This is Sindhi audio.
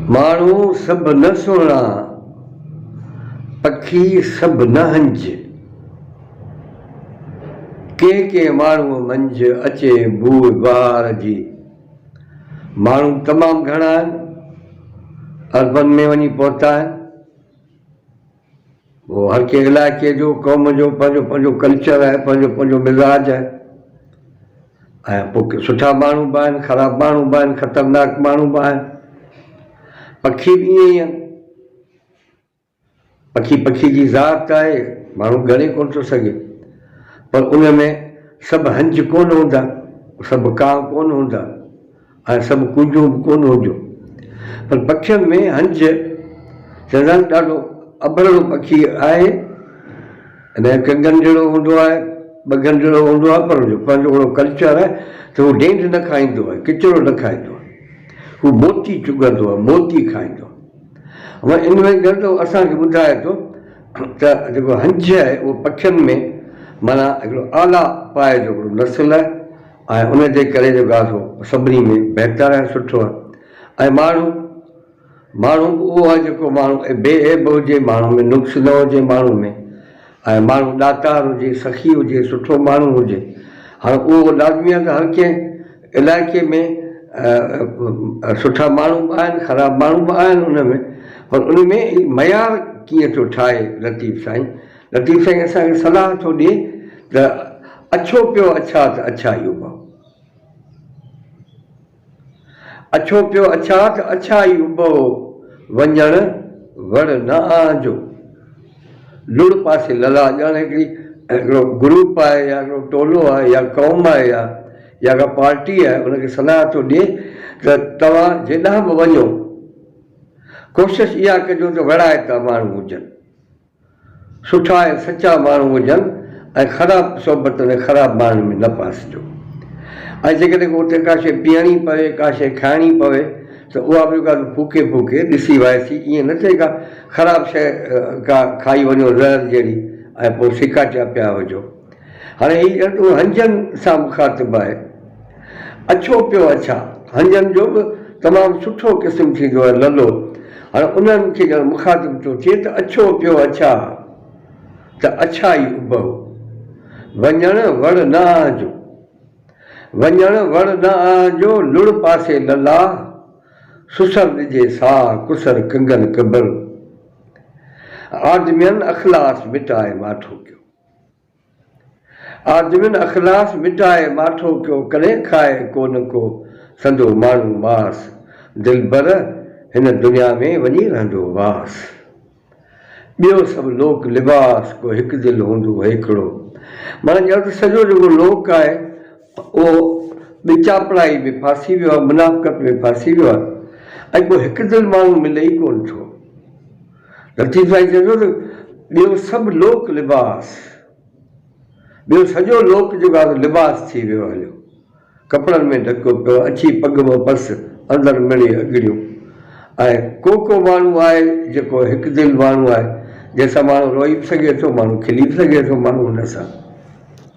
ماڻهو سڀ نه سهڻا، پکي سڀ نه هنج. ڪنهن ڪنهن ماڻهوء منجهه اچي بوء بهار جي. ماڻهو تمام گهڻا آهن، اربن ۾ وڃي پهتا آهن. هو هر ڪنهن علائقي جو قوم جو پنهنجو پنهنجو ڪلچر آهي پنهنجو پنهنجو مزاج آهي ۽ پوء سٺا ماڻهو به آهن خراب ماڻهو به آهن خطرناڪ ماڻهو به آهن پکي به ائين ئي آهن پکي پکي جي ذات آهي ماڻهو ڳڻي ڪونه ٿو سگهي پر ان ۾ سڀ هنج ڪونه هوندا سڀ ڪاهه ڪونه هوندا اهي سڀ ڪوجهون به ڪونه هجون. پر پکين ۾ هنج چنڙ ڏاڍو اڀرڙو پکي آهي. ان جو هڪ ڳنڍيڙو هوندو آهي، ٻه ڳنڍيڙو هوندو آهي پر ان جو پنهنجو اهڙو ڪلچر آهي ته هو ڊينڍ نه کائيندو آهي، ڪچرو نه کائيندو آهي. هو موتي چڳندو آهي، موتي کائيندو آهي. هو ان ۾ ڳرندو اسان کي ٻڌائي ٿو ته جيڪو هنج آهي اهو پکين ۾ معنيٰ هڪڙو اعليٰ پايي جو هڪڙو نسل آهي. ۽ ان تي ڪلي جو گاس هو سڀني ۾ بهتر ۽ سٺو ۽ ماڻهو ماڻهو اهو آهي جيڪو ماڻهو بي عيب هجي ماڻهو ۾ نقص نه هجي ماڻهو ۾ ۽ ماڻهو ڏاتار هجي سخي هجي سٺو ماڻهو هجي هاڻ اهو لازمي آهي ته هر ڪنهن علائقي ۾ سٺا ماڻهو به آهن خراب ماڻهو به آهن ان ۾ پر ان ۾ معيار ڪيئن ٿو ٺاهي لطيف سائين لطيف سائين اسان کي صلاح ٿو ڏي ته اڇو پيو اڇا ته اڇا ئي اڀاء اڇو پيو اڇا ته اڇا ئي اڀاء وڃڻ وڙ نه آنجو لڙ پاسي للا ڄڻ هڪڙي هڪڙو گروپ آهي يا هڪڙو ٽولو آهي يا قوم آهي يا يا ڪا پارٽي آهي ان کي صلاح ٿو ڏي ته توهان جيڏانهن به وڃو ڪوشش اها ڪجو ته وڙائتا ماڻهو هجن. سٺا ۽ سچا ماڻهو هجن ۽ خراب صحبت ۾ خراب ماڻهن ۾ نه ڦاسجو ۽ جيڪڏهن ڪو اتي ڪا شيء پيئڻي پوي، ڪا شيء کائڻي پوي ته اها به ڳالهه ڦوڪي ڦوڪي ڏسي وائسي، ائين نه ٿئي ڪا خراب شيء ڪا کائي وڃو زهر جهڙي ۽ پوء سڪاٽيا پيا هجو. هاڻي هي ڄڻڪ هنجن سان مخاطب آهي. اڇو پيو اڇا، هنجن جو به تمام سٺو قسم ٿيندو آهي للو. هاڻي انهن کي ڄڻ مخاطب ٿو ٿئي ته اڇو پيو اڇا ته اڇا ئي اڀئو. وڃڻ وڙ نه آهنجو. وڃڻ وڙ نه آهنجو، لڙ پاسي للاهه، سسر ڏجي ساهه، ڪسر ڪنگن ڪبر. آدمين اخلاص مٽائي ماٺو ڪيو. آدمين اخلاص مٽائي ماٺو ڪيو ڪڏهن کائي ڪونه ڪو سندو ماڻهو ماس دلبر هن دنيا ۾ وڃي رهندو واس ٻيو سڀ لوڪ لباس ڪو هڪ دل هوندو هيڪڙو معنيٰ چيو ته سڄو جيڪو لوڪ آهي اهو ٻچاپڙائي ۾ ڦاسي ويو آهي منافقت ۾ ڦاسي ويو آهي ۽ ڪو هڪ دل ماڻهو ملي ئي ڪونه ٿو. لطيف سائين چئي ٿو ته ٻيو سڀ لوڪ لباس، ٻيو سڄو لوڪ جيڪو آهي سو لباس ٿي ويو هليو، ڪپڙن ۾ ڍڪيو پيو اڇي پڳ مان پس، اندر مڙئي اڳڙيون. ۽ ڪو ڪو ماڻهو آهي جيڪو هڪ دل ماڻهو آهي، جنهن سان ماڻهو روئي به سگهي ٿو، ماڻهو کلي به سگهي ٿو، ماڻهو ان سان.